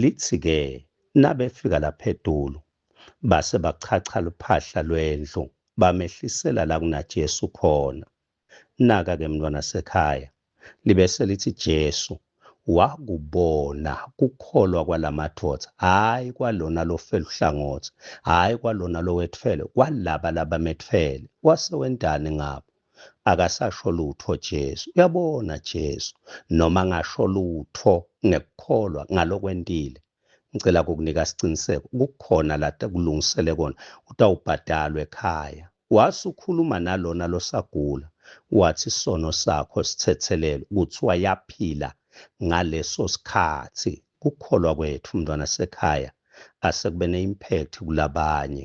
Lithi-ke nabefika lapha edulu, base bachacha luphahla lwendlu, bamehlisela la kunaJesu khona. Naka-ke mntwana sekhaya, libe selithi Jesu, wakubona kukholwa kwalamadoda, hhayi kwalona lofeluhlangothi, hhayi kwalona lowethfele, kwalaba labametfele, wase wentani ngabo? akasasho lutho Jesu uyabona Jesu noma ngasho lutho ngekukholwa ngalokwentile ngicela ukukunika isiqiniseko kukhona la kulungisele kona utawubhadalwa ekhaya wasukhuluma nalona losagula wathi isono sakho sithethelelwe kuthiwa yaphila ngaleso sikhathi kukholwa kwethu mntwana sekhaya asekube ne-impact kulabanye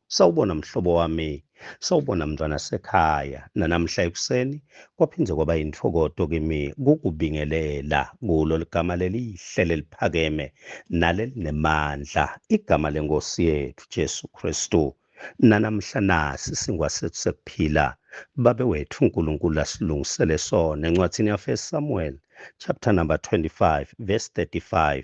Sawubona mhlobo wami, sawubona mntwana sekhaya. Nanamhla ekuseni kwaphinde kwaba yinthokoto kimi kukubingelela kulo ligama lelihle leliphakeme nalelinemandla, igama leNkosi yethu Jesu Kristu. Nanamhla nasi singwa sethu sekuphila. Babe wethu uNkulunkulu asilungisele sona encwadini yaFirst Samuel chapter number 25 verse 35.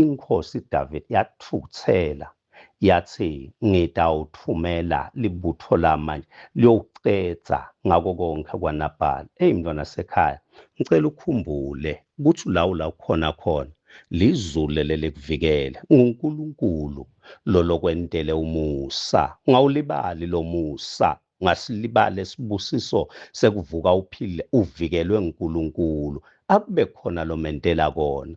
Inkosi David yathukuthela yathi ngitawuthumela libutho lami manje liyowucedza ngako konke kwanabhala eyi mntwana sekhaya ngicela ukhumbule ukuthi ulawu la ukhona khona lizulu leli likuvikele ngunkulunkulu lolokwentele umusa ngawulibali lo musa ngasilibala esibusiso sekuvuka uphile uvikelwe nguNkulunkulu akube khona lomentela kona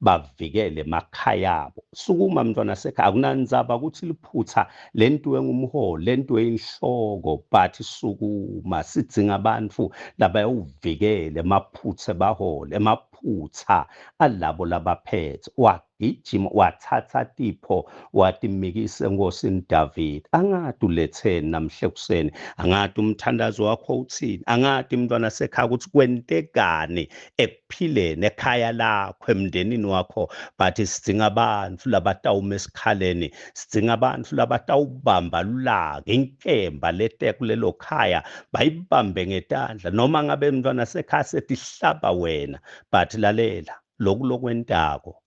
bavikele emakhayabo sukuma mntwana sekhaya akunanzaba ukuthi liphutha le nto engumholi le nto eyinhloko but sukuma sidzinga abantu labayowuvikele emaphutha ebahole emaphutha alabo labaphethe wagijima wathatha tipho watimikisa enkosini David angati uletheni namhle kuseni angati umthandazo wakho uthini angati mntwana sekhaya ukuthi kwentekani ek phile nekhaya lakho emndenini wakho but sidzinga abantu labatawuma esikhaleni sidzinga abantu labatawubamba lulaka inkemba leteku lelo khaya bayibambe ngetandla noma ngabe mntwana sekhaya setihlaba wena but lalela loku lokwentako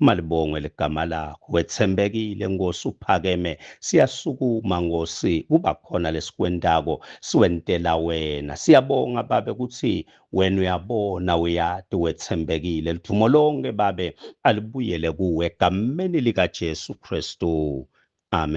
Malibongwe ligama lakho wethembekile Nkosi uphakeme siyasukuma Nkosi kuba khona lesikwentako siwentela wena siyabonga babe kuthi wena uyabona uyati wethembekile lidumo lonke babe alibuyele kuwe egameni likaJesu Kristu amen